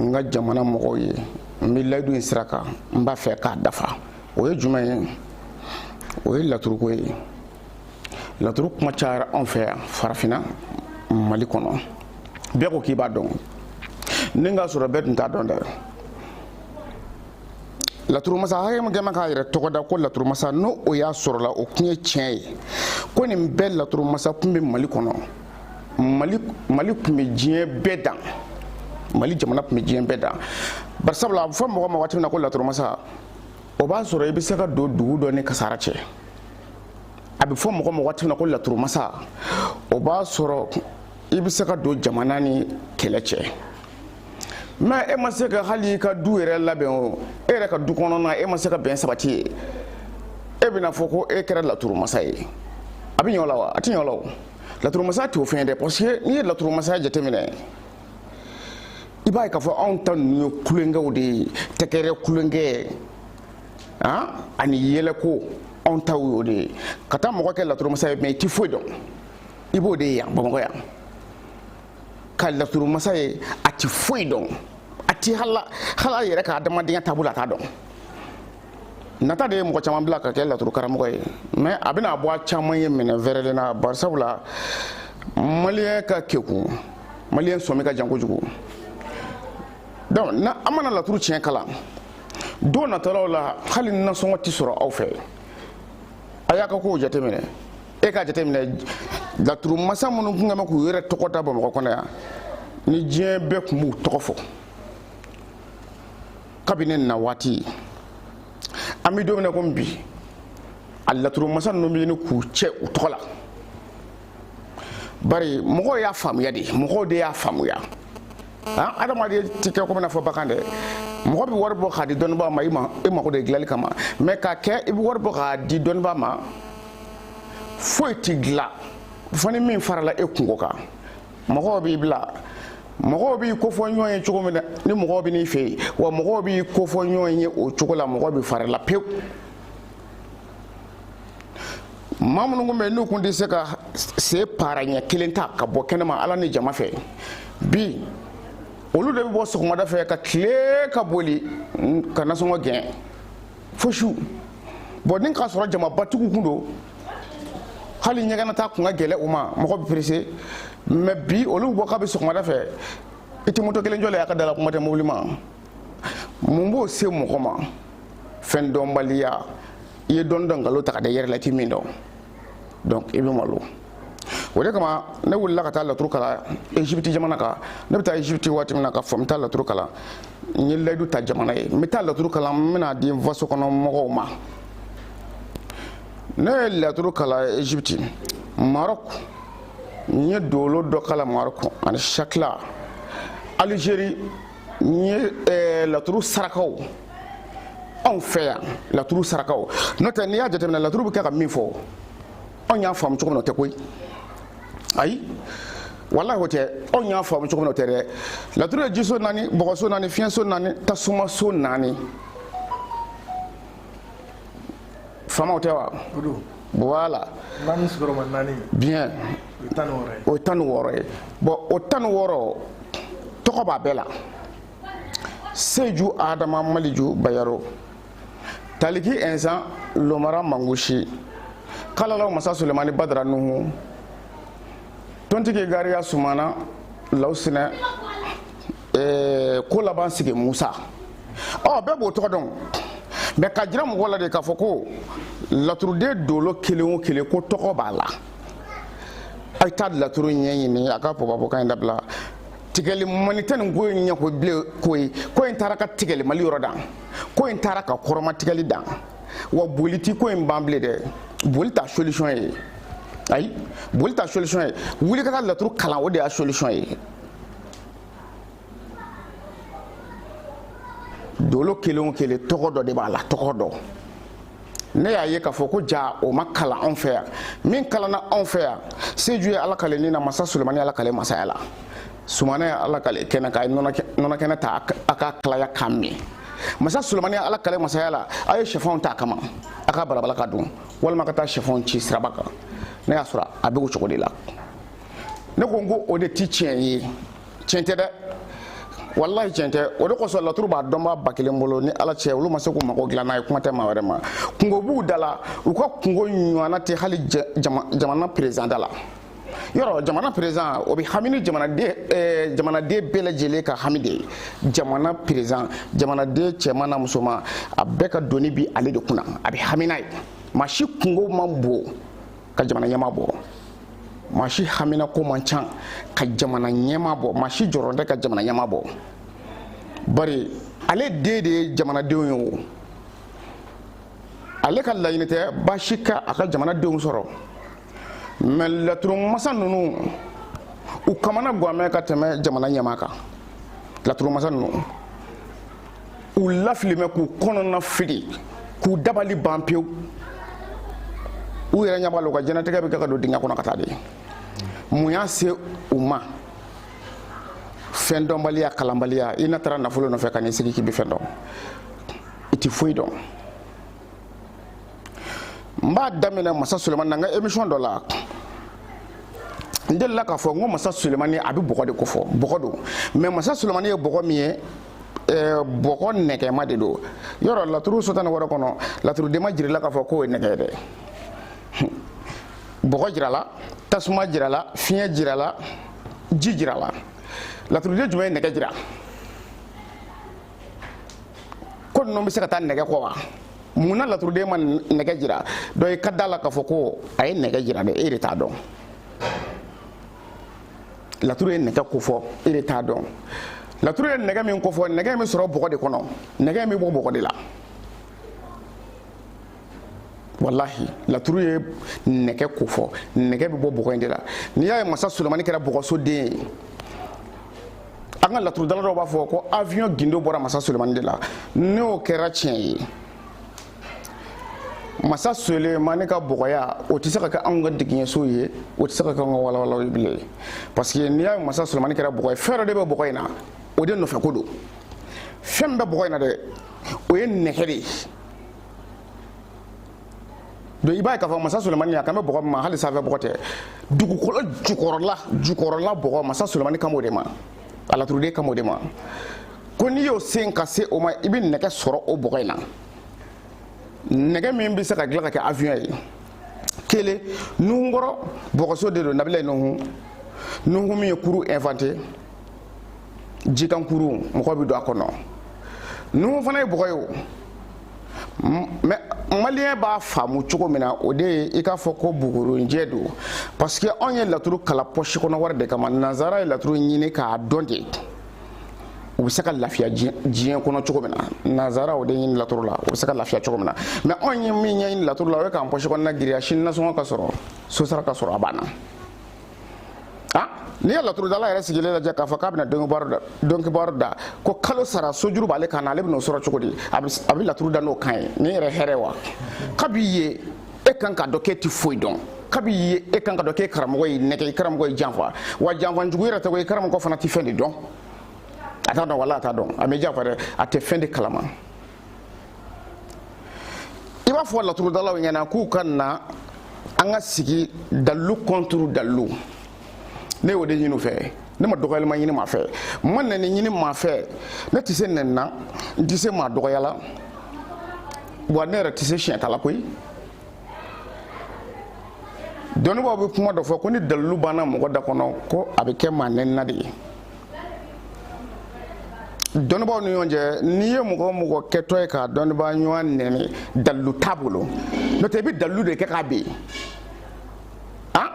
n ka jamana mɔgɔw ye n bɛ layidu in sira kan n b'a fɛ k'a dafa o ye jumɛn ye o ye laturuko ye laturu kuma cayara anw fɛ yan farafinna mali kɔnɔ bɛɛ ko k'i b'a dɔn ni k'a sɔrɔ bɛɛ tun t'a dɔn dɛ laturumasa hakɛ min kɛmɛ k'a yɛrɛ tɔgɔ da ko laturumasa n'o o y'a sɔrɔla o kun ye tiɲɛ ye ko nin bɛɛ laturumasa kun bɛ mali kɔnɔ mali mali tun bɛ diɲɛ bɛɛ dan mali jamana tun bɛ diɲɛ bɛɛ dan barisabula a bɛ fɔ mɔgɔ ma waati min na ko laturumasa o b'a sɔrɔ i bɛ se ka don dugu dɔ ni kasara cɛ a bɛ fɔ mɔgɔ ma waati min na ko laturumasa o b'a sɔrɔ i bɛ se ka don jamana ni kɛlɛ cɛ mais e ma se ka hali i ka du yɛrɛ labɛn o e yɛrɛ ka du kɔnɔna e ma se ka bɛn sabati yen e bɛna fɔ ko e kɛra laturumasa ye a bɛ ɲɛ o la wa a tɛ ɲɛ o la o laturumasa t'o fɛn dɛ parce que n'i ye laturumasaya jateminɛ i b'a ye k'a fɔ anw ta ninnu ye kulonkɛw de ye tɛgɛrɛ kulonkɛ han ani yɛlɛko anw taw y'o de ye ka taa mɔgɔ kɛ laturumasa ye mais i tɛ foyi dɔn i b'o de ye yan bamakɔ yan ka laturumasa ye a tɛ foyi dɔn a tɛ hal'a hal'a yɛrɛ ka adamadenya taabolo a t'a dɔn nata de ye mɔgɔ caman bila ka kɛ laturu karamɔgɔ ye mais a bɛna bɔ a caman ye minɛn fɛrɛlen na barisabula maliyɛn ka kekun maliyɛn sɔmi ka jan kojugu donc n'an mana laturu tiɲɛ kalan don natɔlaw la hali nasɔngɔ tɛ sɔrɔ aw fɛ a y'a ka kow jateminɛ e k'a jateminɛ laturu masa minnu tun kɛmɛ k'u yɛrɛ tɔgɔ da bamakɔ kɔnɔ yan ni diɲɛ bɛɛ tun b'u tɔgɔ fɔ kabini na waati an bɛ don min na komi bi a laturumasa ninnu bɛ ɲini k'u cɛ u tɔgɔ la bari mɔgɔw y'a faamuya de mɔgɔw de y'a faamuya han adamaden tɛ kɛ komi n'a fɔ bagan dɛ mɔgɔ bɛ wari bɔ k'a di dɔnnibaa ma i mako de dilanli kama mais k'a kɛ i bɛ wari bɔ k'a di dɔnnibaa ma foyi tɛ dilan fo ni min farala e kunko kan mɔgɔw b'i bila mɔgɔw b'i kofɔ ɲɔgɔn ye cogo min na ni mɔgɔw bɛ n'i fɛ yen wa mɔgɔw b'i kofɔ ɲɔgɔn ye o cogo la mɔgɔw bɛ far'a la pewu maa minnu tun bɛ yen n'u tun tɛ se ka se paara ɲɛ kelen ta ka bɔ kɛnɛma ala ni jama fɛ bi olu de bɛ bɔ sɔgɔmada fɛ ka tile ka boli ka nasɔngɔ gɛn fo su bɔn ni k'a sɔrɔ jamabatigiw tun don hali ɲɛgɛn na taa kun ka gɛlɛ u ma mɔgɔ bɛ pressé mais bi olu bɔ kabi sɔgɔmada fɛ i tɛ moto kelen jɔlen y'a ka da la kuma tɛ mobili ma mun b'o se mɔgɔ ma fɛn dɔnbaliya i ye dɔɔni dɔn nkalon ta ka da i yɛrɛ la i tɛ min dɔn donc i bɛ malo o de kama ne wulila ka taa laturu kalan egypte jamana kan ne bɛ taa egypte waati min na ka fɔ n bɛ taa laturu kalan n ye layidu ta jamana ye n bɛ taa laturu kalan n bɛ n'a di n faso kɔnɔ mɔgɔw ma ne ye laturu kalan egypte maroc n ye dolo dɔ kalan maroc ani shakila algérie n ye eh, laturu sarakaw anw fɛ yan laturu sarakaw n'o tɛ n'i y'a jateminɛ laturu bɛ kɛ ka min fɔ anw y'a faamu cogo min na o tɛ koyi ayi walahi o tɛ anw y'a faamu cogo min na o tɛ dɛ laturu ye jiso naani bɔgɔso naani fiɲɛso naani tasumaso naani faamaw tɛ wa voilà bien o ye tan ni wɔɔrɔ ye bon o tan ni wɔɔrɔ tɔgɔ b'a bɛɛ la seju adama maliju bayaro taliki ɛnsan lomara mangusi kalalaw masa sulemani badara nuhu tontigi gariya sumana lawsinɛ ɛɛ k'o laban sigi musa ɔ bɛɛ b'o tɔgɔ dɔn mais k'a jira mɔgɔ la de k'a fɔ ko laturuden dolo kelen o kelen ko tɔgɔ b'a la a ye taa laturu ɲɛɲini a ka pɔpɔpɔkan in dabila tigɛli mani tɛ nin ko in ɲɛ ko bilen ko ye ko in taara ka tigɛli mali yɔrɔ dan ko in taara ka kɔrɔmatigɛli dan wa boli ti ko in ban bilen dɛ boli t'a solution ye ayi boli t'a solution ye wuli ka taa laturu kalan o de y'a solution ye dolo kelen o kelen tɔgɔ dɔ de b'a la tɔgɔ dɔ ne y'a ye k'a fɔ ko jaa o ma kalan anw fɛ yan min kalanna anw fɛ yan seju ye ala kale ni na masa sulemani ala kale masaya la sumana ye ala kale kɛnɛ ka nɔnɔ kɛnɛ ta a k'a kalaya k'a min masa sulemani ala kale masaya la a ye sɛfanw ta a kama a k'a balabala k'a dun walima ka taa sɛfanw ci siraba kan ne y'a sɔrɔ a bɛ o cogo de la ne ko n ko o de ti tiɲɛ ye tiɲɛ tɛ dɛ walahi tiɲɛ tɛ o de kosɔn laturu b'a dɔnbaa ba kelen bolo ni ala cɛ olu ma se k'u mago dilan n'a ye kuma tɛ maa wɛrɛ ma kunko b'u da la u ka kunko ɲɔgɔnna tɛ hali jamana président da la yɔrɔ jamana président o bɛ hami ni jamanaden eh, jamanaden bɛɛ lajɛlen ka hami de ye jamana président jamanaden cɛman n'a musoman a bɛɛ ka doni bi ale de kunna a bɛ hami n'a ye maa si kunko man bon ka jamana ɲɛmaa bɔ maa si haminanko man ca ka jamana ɲɛmaa bɔ maa si jɔrɔ tɛ ka jamana ɲɛmaa bɔ bari ale den de ye jamanadenw ye o ale ka laɲini tɛ baasi ka a ka jamanadenw sɔrɔ mais laturumasa ninnu u kamana ganmɛ ka tɛmɛ jamana ɲɛmaa kan laturumasa ninnu u lafilimɛ k'u kɔnɔna fili k'u dabali ban pewu u yɛrɛ ɲɛ b'a la u ka diɲɛlatigɛ bɛ kɛ ka don dingɛ kɔnɔ ka taa de mun y'a se u ma fɛn dɔnbaliya kalanbaliya i na taara nafolo nɔfɛ ka n'i sigi k'i bɛ fɛn dɔn i tɛ foyi dɔn n b'a daminɛ masa sulemani na n ka émission dɔ la n delila k'a fɔ n ko masa sulemani a bɛ bɔgɔ de ko fɔ bɔgɔ don mais masa sulemani ye bɔgɔ min ye bɔgɔ nɛgɛma de don yɔrɔ laturu so tan ni wɔɔrɔ kɔnɔ laturuden ma jirila k'a fɔ k'o ye nɛgɛ ye dɛ bɔgɔ jirala tasuma jirala fiɲɛ jirala ji jirala laturuden jumɛn ye nɛgɛ jira ko ninnu bɛ se ka taa nɛgɛ kɔ wa munna laturuden ma nɛgɛ jira donc i ka da la k'a fɔ ko a ye nɛgɛ jira dɛ e de t'a dɔn laturu ye nɛgɛ ko fɔ e de t'a dɔn laturu ye nɛgɛ min ko fɔ nɛgɛ in bɛ sɔrɔ bɔgɔ de kɔnɔ nɛgɛ in bɛ bɔ bɔgɔ de la walahi laturu ye nɛgɛ ko fɔ nɛgɛ bɛ bɔ bɔgɔ in de la n'i y'a ye masa sulemani kɛra bɔgɔso den ye an ka laturudala dɔw b'a fɔ ko avion gindo bɔra masa sulemani de la n'o kɛra tiɲɛ ye masa sulemani ka bɔgɔya o tɛ se ka kɛ anw ka digiɲɛso ye o tɛ se ka kɛ anw ka walawalaw ye bilen parce que n'i y'a ye masa sulemani kɛra bɔgɔ ye fɛn dɔ de bɛ bɔgɔ in na o de nɔfɛ ko don fɛn min bɛ bɔgɔ in na dɛ o ye nɛgɛ de ye donc i b'a ye k'a fɔ masa sulemani a kan bɛ bɔgɔ min ma hali sanfɛ bɔgɔ tɛ dugukolo jukɔrɔla jukɔrɔla bɔgɔ masa sulemani kan b'o de ma a laturuden kan b'o de ma ko n'i y'o sen ka se o ma i bɛ nɛgɛ sɔrɔ o bɔgɔ in na nɛgɛ min bɛ se ka dilan ka kɛ avion ye kelen nuhunkɔrɔ bɔgɔso de don nabilayi nuhu nuhu min ye kurun inventer jikankurun mɔgɔ bɛ don a kɔnɔ nuhu fana ye bɔgɔ ye o mais maliyɛn b'a faamu cogo min na o de ye i k'a fɔ ko bugurinjɛ don parce que anw ye laturu kalan pɔsi kɔnɔ wari de kama nanzara ye laturu ɲini k'a dɔn de u bɛ se ka lafiya diɲɛ kɔnɔ cogo min na nanzara o de ɲini laturu la u bɛ se ka lafiya cogo min na mais anw ye min ɲɛɲini laturu la o ye k'an pɔsi kɔnɔna giriya sini nasɔngɔ ka sɔrɔ sosara ka sɔrɔ a banna n'i ye laturudala yɛrɛ sigilen lajɛ k'a fɔ k'a bɛna dɔnkibaro da ko kalo sara sojuru b'ale kan na ale bɛn'o sɔrɔ cogo di a bɛ laturu da n'o kan ye nin yɛrɛ hɛrɛ wa kabi ye e kan k'a dɔn k'e ti foyi dɔn kabi ye e kan k'a dɔn k'e karamɔgɔ y'i nɛgɛn i karamɔgɔ y'i janfa wa janfa jugu yɛrɛ tɛ ko i karamɔgɔ fana tɛ fɛn de dɔn a t'a dɔn wala a t'a dɔn a m'e janfa dɛ a tɛ fɛn de kalama i b'a fɔ laturudalaw ɲɛna k'u ka na an ka sigi dalilu contre dalilu ne y'o de ɲini u fɛ ne ma dɔgɔyali ma ɲini maa fɛ n ma nɛni ɲini maa fɛ ne tɛ se nɛni na n tɛ se maa dɔgɔya la wa ne yɛrɛ tɛ se siɲɛta la koyi dɔnnibaaw bɛ kuma dɔ fɔ ko ni dalilu banna mɔgɔ da kɔnɔ ko a bɛ kɛ maa nɛnina de ye dɔnnibaaw ni ɲɔgɔn cɛ n'i ye mɔgɔ mɔgɔ kɛtɔ ye ka dɔnnibaa ɲɔgɔn nɛni dalilu t'a bolo n'o tɛ i bɛ dalilu de kɛ k'a ben han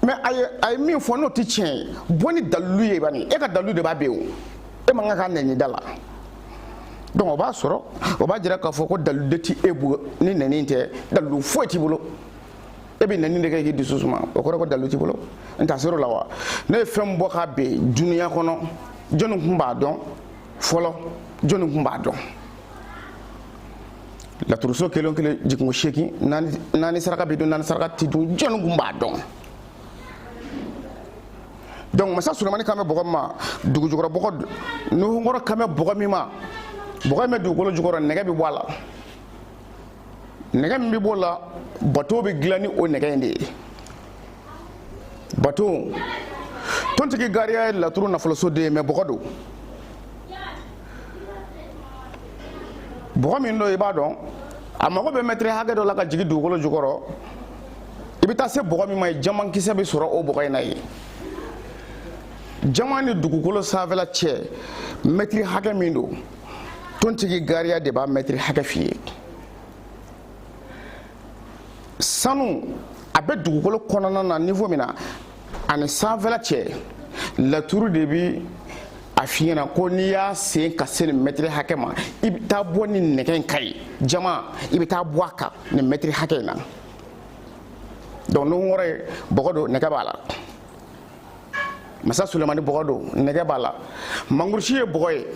mais a ye a ye min fɔ n'o tɛ tiɲɛ ye bɔ ni dalilu ye bani e ka dalilu de b'a ben o e man kan ka nɛni d'a la donc o b'a sɔrɔ o b'a jira k'a fɔ ko dalilu de tɛ e bolo ni nɛni tɛ dalilu foyi t'i bolo. e bɛ nɛni de kɛ k'i dusu suma o kɔrɔ ko dalilu t'i bolo n ta ser'o la wa ne ye fɛn bɔ k'a ben dunuya kɔnɔ jɔnni tun b'a dɔn fɔlɔ jɔnni tun b'a dɔn laturuso kelen o kelen jiginko seegin naani naani saraka bɛ dun naani saraka tɛ dun jɔnni tun b'a dɔn donc masa sulemani kan bɛ bɔgɔ min ma dugu jukɔrɔ bɔgɔ nuhunkɔrɔ kan bɛ bɔgɔ min ma bɔgɔ in bɛ dugukolo jukɔrɔ nɛgɛ bɛ bɔ a la nɛgɛ min bɛ b'o la bato bɛ dilan ni o nɛgɛ in de ye bato tontigi gariya ye laturu nafoloso den ye mais bɔgɔ don bɔgɔ min don i b'a dɔn a mago bɛ mɛtiri hakɛ dɔ la ka jigin dugukolo jukɔrɔ i bɛ taa se bɔgɔ min ma yen jamankisɛ bɛ sɔrɔ o bɔgɔ in na yen jaman ni dugukolo sanfɛla cɛ mɛtiri hakɛ min don tontigi gariya de b'a mɛtiri hakɛ f'i ye sanu a bɛ dugukolo kɔnɔna na niveau min na ani sanfɛla cɛ laturu de bi a f'i ɲɛna ko n'i y'a sen ka se nin mɛtiri hakɛ ma i bɛ taa bɔ nin nɛgɛ in kan yen jaman i bɛ taa bɔ a kan nin mɛtiri hakɛ in na donc nuhunkɔrɔ ye bɔgɔ don nɛgɛ b'a la masa sulemani bɔgɔ don nɛgɛ b'a la mangurusi ye bɔgɔ ye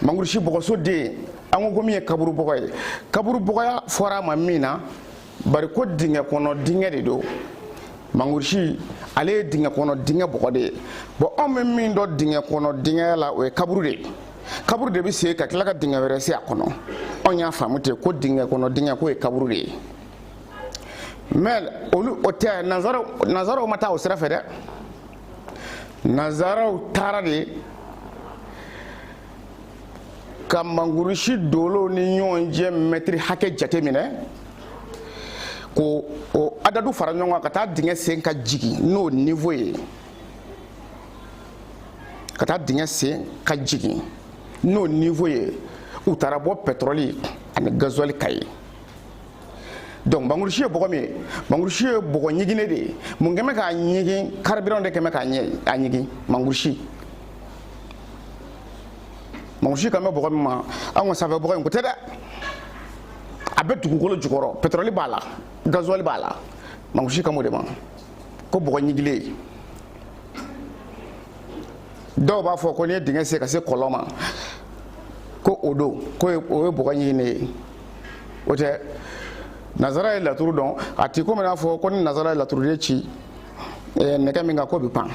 mangurusi bɔgɔso den an ko min ye kaburu bɔgɔ ye kaburu bɔgɔya fɔra a ma min na bari ko dingɛ kɔnɔ dingɛ de don mangurusi ale ye dingɛ kɔnɔ dingɛ bɔgɔ de ye bon anw bɛ min dɔn dingɛ kɔnɔ dingɛya la o ye kaburu de ye kaburu de bɛ se ka tila ka dingɛ wɛrɛ sen a kɔnɔ anw y'a faamu ten ko dingɛ kɔnɔ dingɛ k'o ye kaburu de ye mɛ olu o tɛ nanzaraw ma taa o sira fɛ dɛ nanzaraw taara de ka mangurusi dolow ni ɲɔgɔn cɛ mɛtiri hakɛ jate minɛ k'o adadu fara ɲɔgɔn kan ka taa dingɛ sen ka jigin n'o niveau ye ka taa dingɛ sen ka jigin n'o niveau ye u taara bɔ pɛtɔrɔli ani gazuwali kan yen donc mangurusi ye bɔgɔ min ye mangurusi ye bɔgɔ ɲiginnen de ye mun kɛmɛ k'a ɲigin carburant de kɛmɛ k'a ɲigin mangurusi mangurusi kan bɛ bɔgɔ min ma anw ka sanfɛ bɔgɔ in ko tɛ dɛ a bɛ dugukolo jukɔrɔ pɛtɛrɔli b'a la gazuwali b'a la mangurusi kan b'o de ma ko bɔgɔ ɲigilen dɔw b'a fɔ ko n'i ye dingɛ sen ka se kɔlɔn ma ko o don ko o ye bɔgɔ ɲiginnen ye o tɛ nazara ye laturu dɔn a ti komi n'a fɔ ko ni nazara ye laturu de ci eh, nɛgɛ min kan k'o bɛ pan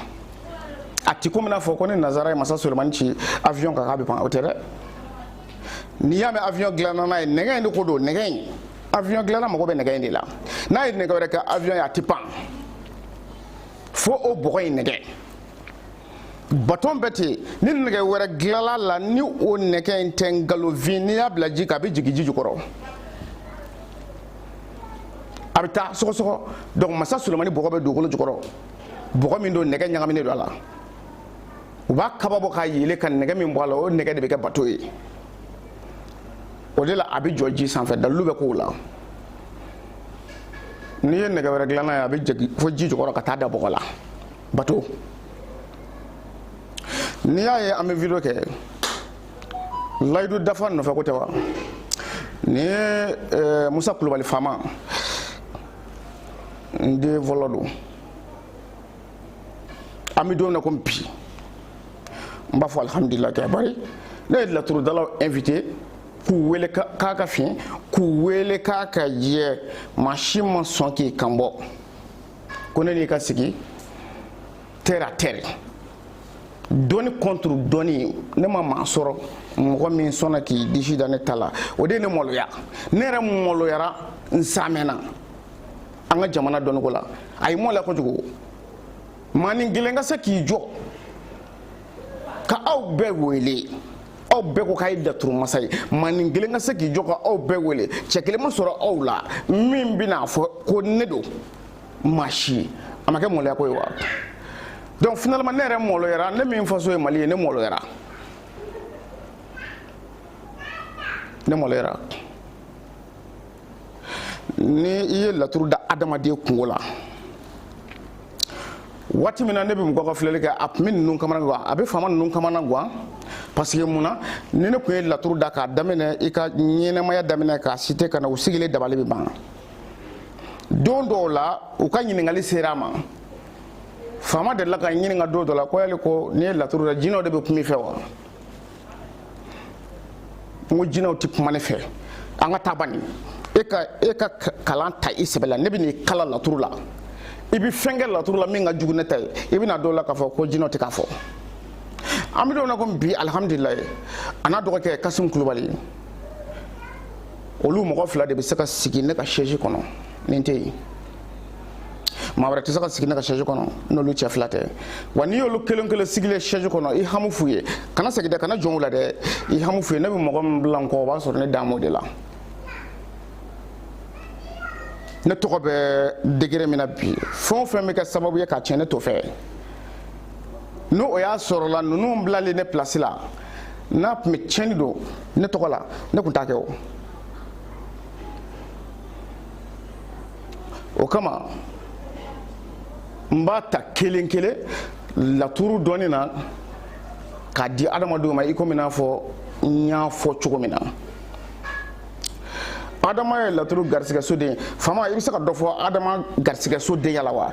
a ti komi n'a fɔ ko ni nazara ye masa solomani ci avion kan k'a bɛ pan o tɛ dɛ n'i y'a mɛn avion dilanna n'a ye nɛgɛ in de ko dɔn nɛgɛ in avion dilanna mago bɛ nɛgɛ in de la n'a ye nɛgɛ wɛrɛ kɛ avion ye a ti pan fo o bɔgɔ in nɛgɛ bato bɛ ten ni nɛgɛ wɛrɛ dilanla la ni o nɛgɛ in tɛ nkalonfin n'i y'a bila ji kan a bɛ jigin ji jukɔrɔ a bɛ taa sɔgɔsɔgɔ donc masa sulemani bɔgɔ bɛ dugukolo jukɔrɔ bɔgɔ min don nɛgɛ ɲagaminen don a la u b'a kaba bɔ k'a yeele ka nɛgɛ min bɔ a la o nɛgɛ de bɛ kɛ bato ye o de la a bɛ jɔ ji sanfɛ dalilu bɛ ko la n'i ye nɛgɛ wɛrɛ dilan a ye a bɛ jigin fo ji jukɔrɔ ka taa da bɔgɔ la bato n'i y'a ye an bɛ video kɛ layidu dafa nɔfɛ ko tɛ wa nin ye eh, musa kulubali faama n den fɔlɔ don an bɛ don min na komi bi n b'a fɔ alihamudulila kɛ bari ne ye laturudalaw invité k'u wele k'a ka fin k'u wele k'a ka jɛ maa si ma sɔn k'i kan bɔ ko ne n'i ka sigi terre à terre dɔnni contre dɔnni ne ma maa sɔrɔ mɔgɔ min sɔnna k'i disi da ne ta la o de ye ne maloya ne yɛrɛ maloyara n samɛnna an ka jamana dɔnniko la a ye maloya kojugu maanin kelen ka se k'i jɔ ka aw bɛɛ wele aw bɛɛ ko k'a ye laturu masa ye maanin kelen ka se k'i jɔ ka aw bɛɛ wele cɛ kelen ma sɔrɔ aw la min bɛna fɔ ko ne don maa si a ma kɛ maloya ko ye wa donc finalement ne yɛrɛ maloyara ne min faso ye mali ye ne maloyara ne maloyara ni i ye laturu da adamaden kunko la waati min na ne bɛ mɔgɔ ka filɛli kɛ a tun bɛ ninnu kamana gan a bɛ faama ninnu kamana gan parce que mun na ni ne tun ye laturu da k'a daminɛ i ka ɲɛnamaya daminɛ k'a site ka na u sigilen dabali bɛ ban don dɔw la u ka ɲininkali sera a ma faama delila ka ɲininka don dɔ la ko yali ko n'i ye laturu da jinɛw de bɛ kuma i fɛ wa n ko jinɛw tɛ kuma ne fɛ an ka taa bani e ka e ka kalan ta i sɛbɛ la ne bɛ n'i kalan laturu la i bɛ fɛn kɛ laturu la min ka jugu ne ta ye i bɛna dɔn o la k'a fɔ ko jinɛw tɛ k'a fɔ an bɛ don na ko bi alihamudulilayi a n'a dɔgɔkɛ kasimu kulubali olu mɔgɔ fila de bɛ se ka sigi ne ka sɛji kɔnɔ ni n tɛ yen maa wɛrɛ tɛ se ka sigi ne ka sɛji kɔnɔ n'olu cɛ fila tɛ wa n'i y'olu kelen kelen sigilen sɛji kɔnɔ i hami fu ye kana segin dɛ kana jɔn u la dɛ i hami fu ye ne bɛ mɔgɔ min bila n kɔ o b'a sɔrɔ ne dalen b'o de la ne tɔgɔ bɛ degere min na bi fɛn o fɛn bɛ kɛ sababu ye ka tiɲɛ ne t'o fɛ n'o o y'a sɔrɔla ninnu bilalen ne pilasi la n'a tun bɛ tiɲɛni don ne tɔgɔ la ne tun t'a kɛ o o kama n b'a ta kelen kelen laturu dɔɔni na k'a di adamadenw ma i komi n'a fɔ n y'a fɔ cogo min na adama ye laturu garisigɛso den ye faama i bɛ se ka dɔ fɔ adama garisigɛso denya la wa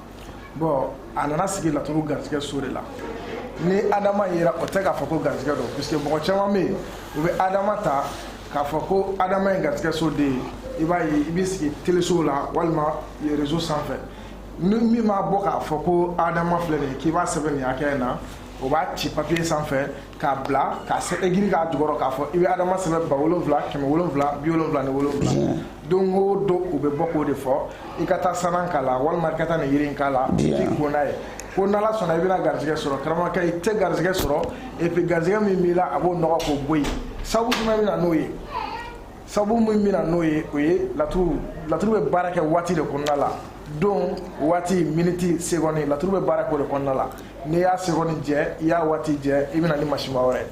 bɔn a nana sigi laturu garijɛgɛ so de la ni adama yera o tɛ k'a fɔ ko garijɛgɛ don puisque mɔgɔ caman bɛ yen u bɛ adama ta k'a fɔ ko adama ye garijɛgɛ so den ye i b'a ye i b'i sigi telesow la walima rezo sanfɛ ni min b'a bɔ k'a fɔ ko adama filɛ nin ye k'i b'a sɛbɛn nin hakɛ in na o b'a ci papiye sanfɛ k'a bila k'a sɛbɛ giri k'a jukɔrɔ k'a fɔ i bɛ adama sɛbɛn ba wolonwula kɛmɛ wolonwula bi wolonwula ni wolonwula don o don u bɛ bɔ k'o de fɔ i ka taa sanan k'a la walima i ka taa nin yiri in k'a la k'i ko n'a ye ko n'ala sɔnna i bɛna garijɛgɛ sɔrɔ karamɔgɔkɛ i tɛ garijɛgɛ sɔrɔ epi garijɛgɛ min b'i la a b'o nɔgɔ k'o bɔ yen sabu jumɛn bɛ na n'o ye sabu min bɛna n'o ye o ye laturu laturu bɛ baara kɛ waati de kɔnɔna la don waati miniti segɔni laturu bɛ baara kɛ o de kɔnɔna la n'i y'a segɔni jɛ i y'a waati jɛ i bɛna ni masiba wɛrɛ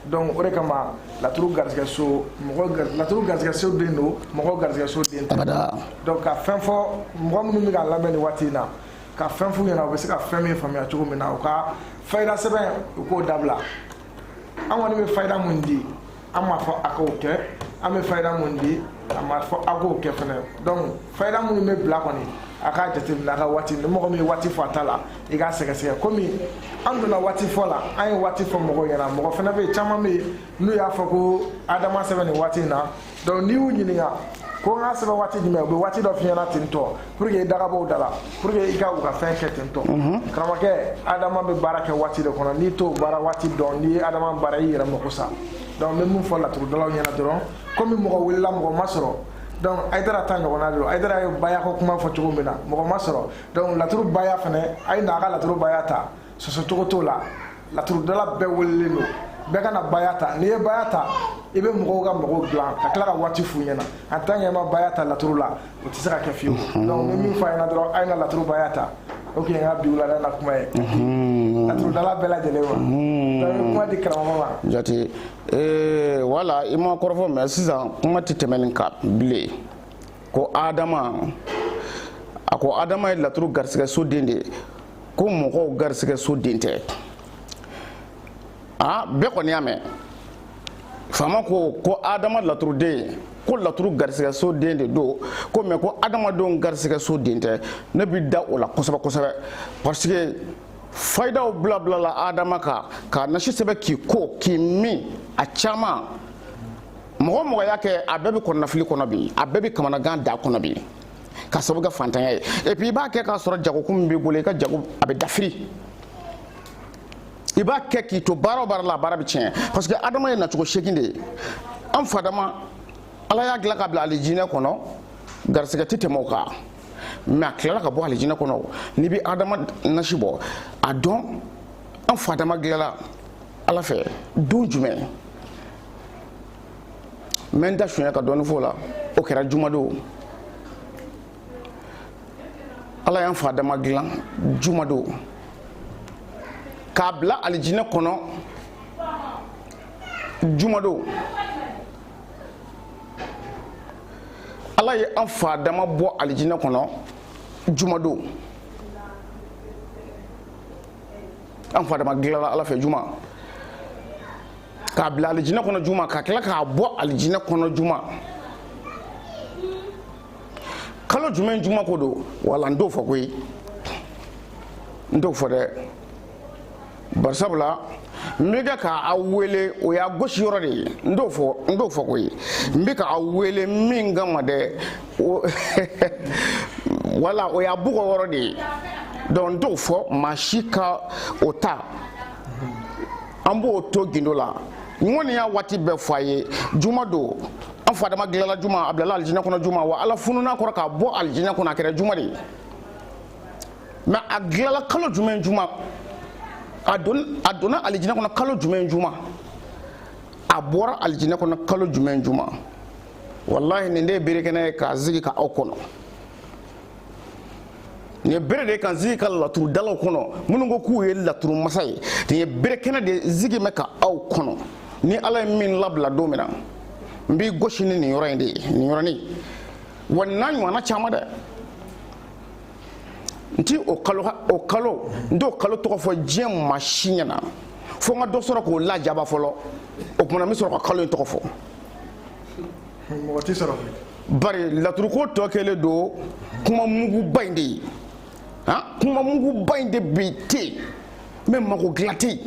donc o de kama laturu garisɛgɛ so mɔgɔ laturu garisɛgɛ so den don mɔgɔ garisɛgɛ so den tɛ donc ka fɛn fɔ mɔgɔ minnu bɛ k'an lamɛn nin waati in na ka fɛn f'u ɲɛna u bɛ se ka fɛn min faamuya cogo min na u ka fayida sɛbɛn u k'o dabila an kɔni bɛ fayida mun di an m'a fɔ a k'o kɛ an bɛ fayida mun di an m'a fɔ a k'o kɛ fana donc fayida minnu bɛ bila kɔni a k'a jateminɛ a ka waati ni mɔgɔ min ye waati fɔ a ta la i k'a sɛgɛsɛgɛ komi an donna waati fɔ la an ye waati fɔ mɔgɔw ɲɛna mɔgɔ fana bɛ yen caman bɛ yen n'u y'a fɔ ko adama sɛbɛn nin waati in na donc n'i y'u ɲininka ko n k'a sɛbɛn waati jumɛn u bɛ waati dɔ f'i ɲɛna ten tɔ pour que i da ka bɔ u da la pour que i ka u ka fɛn kɛ ten tɔ karamɔgɔkɛ adama bɛ baara kɛ waati de kɔnɔ n'i t'o baara waati dɔn n'i ye adama baara i y'i yɛrɛ mako sa donc n bɛ min fɔ laturudalaw ɲɛna dɔrɔn komi mɔgɔ welela mɔgɔ ma sɔrɔ donc ayidara ta ɲɔgɔnna de don ayidara ye baya ko kuma fɔ cogo min na mɔgɔ ma sɔrɔ donc laturu baya fana a ye na a ka laturu baya ta sɔsɔcogo t'o la laturudala bɛɛ welelen don bɛɛ kana baya ta n'i ye baya ta i bɛ mɔgɔw ka mɔgɔw dilan ka tila ka waati f'u ɲɛna en tant que i ma baya ta laturu la o tɛ se ka kɛ fiyewu mhm. donc ni min fɔ a ɲɛna dɔrɔn a ye na laturu baya ta o tun ye n ka bi wulada na kuma ye mhm. laturudala bɛɛ lajɛlen ma mhm. donc kuma di karamɔgɔ ma jate eh, wala i ma kɔrɔfɔ mɛ sisan kuma tɛ tɛmɛ nin kan bilen ko adama a ko adama ye laturu garisɛgɛ so den de ye ko mɔgɔw garisɛgɛ so den tɛ aa bɛɛ kɔni y'a mɛn faama ko ko adama laturuden ko laturu garisɛgɛ so den de don ko mais ko adamadenw garisɛgɛ so den tɛ ne bi da o la kosɛbɛ kosɛbɛ parce que fayidaw bilabilala adama kan k'a nasi sɛbɛn k'i ko k'i min a caman mɔgɔ o mɔgɔ y'a kɛ a bɛɛ bɛ kɔnɔnafili kɔnɔ bi a bɛɛ bɛ kamanagan da kɔnɔ bi ka sabu kɛ fantanya ye et puis i b'a kɛ k'a sɔrɔ jagokun min b'i bolo i ka jago a bɛ dafiri i b'a kɛ k'i to baara o baara la a baara bɛ tiɲɛ parce que adama ye nacogo segin de ye an fa adama ala y'a dilan k'a bila alijinɛ kɔnɔ garisɛgɛ tɛ tɛmɛ o kan mais a tilala ka bɔ alijinɛ kɔnɔ n'i bɛ adama nasi bɔ a dɔn an fa adama dilanna ala fɛ don jumɛn n bɛ n da sunya ka dɔɔni fɔ o la o kɛra jumadon ala y'an fa adama dilan jumadon k'a bila alijinɛ kɔnɔ jumadon ala ye an fa adama bɔ alijinɛ kɔnɔ jumadon an fa adama dilanna ala fɛ juma k'a bila alijinɛ kɔnɔ juma ka tila k'a bɔ alijinɛ kɔnɔ juma kalo jumɛn juma ko don wala n t'o fɔ koyi n t'o fɔ dɛ bari sabula n bɛ kɛ ka aw wele o y'a gosi yɔrɔ de ye n t'o fɔ koyi n bɛ ka aw wele min kama dɛ wala o y'a bugɔ yɔrɔ de ye donc n t'o fɔ maa si ka o ta an b'o to gindo la n kɔni y'a waati bɛɛ fɔ a ye juma don an fa adama dilanna juma a bilala alijinɛ kɔnɔ juma wa ala fununa a kɔrɔ k'a bɔ alijinɛ kɔnɔ a kɛra juma de ye mais a dilanla kalo jumɛn juma a donna alijinɛ kɔnɔ kalo jumɛn juma a bɔra alijinɛ kɔnɔ kalo jumɛn juma walahi nin de ye berekɛnɛ ye k'a zigi ka aw kɔnɔ nin ye bere de k'a zigi ka laturudalaw kɔnɔ minnu ko k'u ye laturu masa ye nin ye berekɛnɛ de zigi bɛ ka aw kɔnɔ ni ala ye min labila don min na n b'i gosi ni nin yɔrɔ in de ye nin yɔrɔnin wa nin n'a ɲɔgɔnna caman dɛ n ti o kalo o kalo n t'o kalo tɔgɔ fɔ diɲɛ maa si ɲɛna fo n ka dɔ sɔrɔ k'o lajaba fɔlɔ o kuma na n bɛ sɔrɔ ka kalo in tɔgɔ fɔ mɔgɔ tɛ sɔrɔ bari laturuko tɔ kɛlen don kuma muguba in de ye han kuma muguba in de bi ten mais mago dilan tɛ yen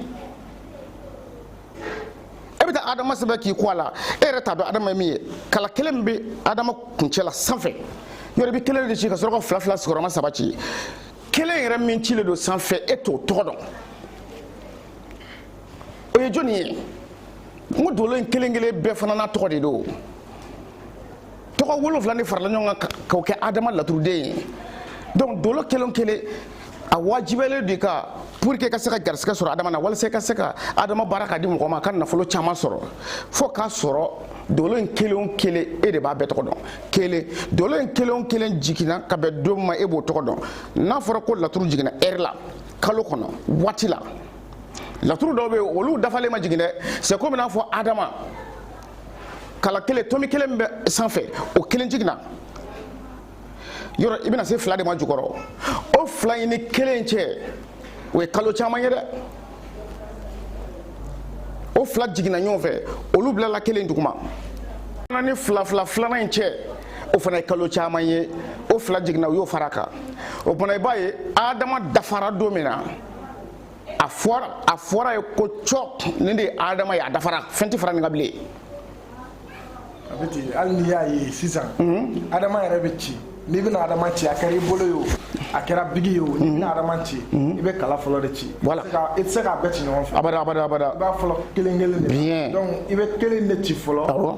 e bɛ taa adama sɛbɛn k'i ko a la e yɛrɛ t'a dɔn adama ye min ye kala kelen min bɛ adama kuncɛ la sanfɛ yɔrɔ i bɛ kelen de ci ka sɔrɔ ka fila fila sigiyɔrɔma saba ci kelen yɛrɛ min cilen don sanfɛ e t'o tɔgɔ dɔn o ye jɔni ye n ko dolo in kelen kelen bɛɛ fana n'a tɔgɔ de don tɔgɔ wolonfila de farala ɲɔgɔn kan k'o kɛ adama laturuden ye donc dolo kelen kelen a wajibiyalen don i kan pour que ka se ka garisigɛ sɔrɔ adama na walasa i ka se ka adama baara ka di mɔgɔ ma a ka nafolo caman sɔrɔ fo k'a sɔrɔ dolo in kelen o kelen e de b'a bɛɛ tɔgɔ dɔn kelen dolo in kelen o kelen jiginna ka bɛn don ma e b'o tɔgɔ dɔn n'a fɔra ko laturu jiginna heure la kalo kɔnɔ waati la laturu dɔw bɛ yen olu dafalen ma jigin dɛ c'est comme n'a fɔ adama kala kelen tomi kelen min bɛ sanfɛ o kelen jiginna yɔrɔ i bɛna se fila de ma jukɔrɔ o fila in ni kelen cɛ o ye kalo caman ye dɛ o fila jiginna ɲɔgɔn fɛ olu bilala kelen duguma ni fila fila filanan in cɛ o fana ye kalo caman ye o fila jiginna u y'o fara a kan o fana i b'a ye adama dafara don min na a fɔra a fɔra ye ko cɔ nin de ye adama ye a dafara fɛn tɛ fara nin kan bilen a bɛ ten hali n'i y'a ye sisan adama yɛrɛ bɛ ci n'i bɛna adama ci a kɛra i bolo ye o a kɛra bigi ye o n'i bɛna adama ci i bɛ kala fɔlɔ de ci Voilà. i tɛ se k'a bɛɛ ci ɲɔgɔn fɛ abada abada abada i b'a fɔlɔ kelen kelen de la. Bien. donc i bɛ kelen de ci fɔlɔ awɔ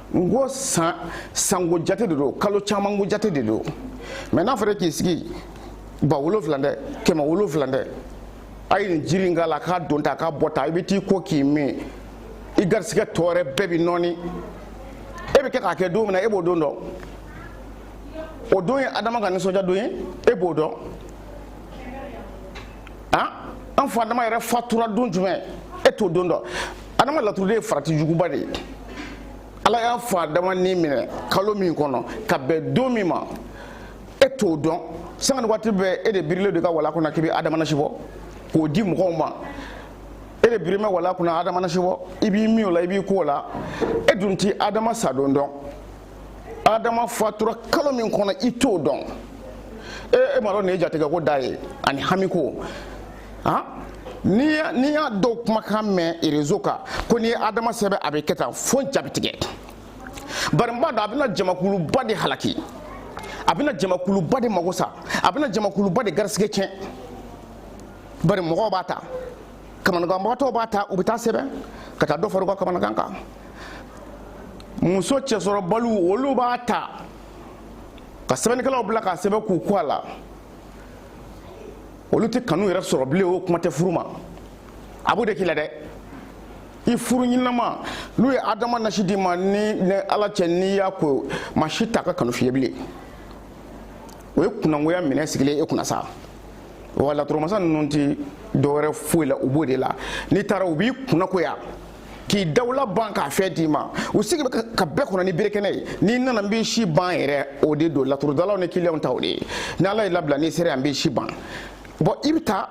n ko sanko jate de don kalo caman ko jate de don mɛ n'a fɔra k'i sigi ba wolonfila dɛ kɛmɛ wolonfila dɛ a ye nin jiri in k'a la k'a don ta k'a bɔ ta i bɛ t'i ko k'i min i garisigɛ tɔ wɛrɛ bɛɛ bɛ nɔɔni e bɛ kɛ k'a kɛ don min na e b'o don dɔn o don ye adama ka nisɔndiya don ye e b'o dɔn an fa adama yɛrɛ fatura don jumɛn e t'o don dɔn adama laturu de ye farati juguba de ye ala y'an fa adama ni minɛ kalo min kɔnɔ ka bɛn don min ma e t'o dɔn sanga ni waati bɛɛ e de birilen don i ka wala kɔnɔ k'i bɛ adama nasi bɔ k'o di mɔgɔw ma e de birimɛ wala kunna adama nasi bɔ i b'i min o la i b'i ko o la e dun ti adama sadon dɔn adama fatura kalo min kɔnɔ i t'o dɔn e e m'a dɔn nin ye jatigɛko dan ye ani hamiko han n'i y'a dɔw kumakan mɛn rezo kan ko n'i ye adama sɛbɛn a bɛ kɛ tan fo n ja bɛ tigɛ bari n b'a dɔn a bɛna jamakuluba de halaki a bɛna jamakuluba de mago sa a bɛna jamakuluba de garisigɛ tiɲɛ bari mɔgɔw b'a ta kamanaganbagatɔw b'a ta u bɛ t'a sɛbɛn ka taa dɔ fara u ka kamanagan kan muso cɛsɔrɔbaliw olu b'a ta ka sɛbɛnnikɛlaw bila k'a sɛbɛn k'u ko a la olu tɛ kanu yɛrɛ sɔrɔ bilen o kuma tɛ furu ma a b'o de k'i la dɛ i furu ɲinama n'u ye adama nasi d'i ma n ni ala cɛ n'i y'a ko maa si t'a ka kanu f'i ye bilen o ye kunnagoya minɛn sigilen e kunna sa wa laturumasa ninnu tɛ dɔwɛrɛ foyi la u b'o de la n'i taara u b'i kunnagoya k'i dawula ban k'a fɛn d'i ma u sigi bɛ ka bɛɛ kɔnɔ ni berekɛnɛ ye n'i nana n b'i si ban yɛrɛ o de don laturudalaw ni kiliyanw ta o de ye ni ala y'i labila n'i sera yan n b'i si ban bon i bɛ taa